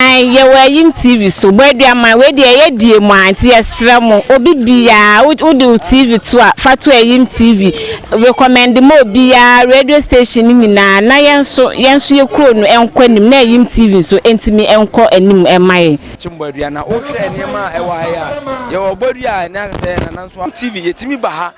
Aane, yɛwɔ ayim TV so, bɔ aduaman, wei deɛ ɛyɛ die mu aa, nti yɛsrɛ mo, obi biaa, wo, wo de wo TV to a, fa to ayim TV, recommend ma obiaa, radio station no nyinaa, na yɛn nso, yɛn nso yɛ kuro no nkɔ anim, na ayim TV nso ntumi nkɔ anim mma yɛn. Akyem Bɔadua, na wo hwɛ nneɛma a ɛwɔ ha yi a, yɛwɔ Bɔdua a ɛne asɛ, na nanso ayim TV, yɛtumi ba ha,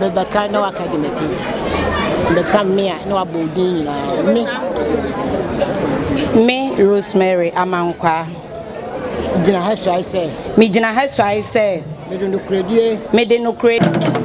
Mebɛka na waka de m'akyi Mebɛka me a na wabɔ wo din nyinaa Me Me Rosemary Amankwaa Gyina ha suae sɛ Megyina ha suae sɛ Mede nokorɛdie Mede nokorɛdie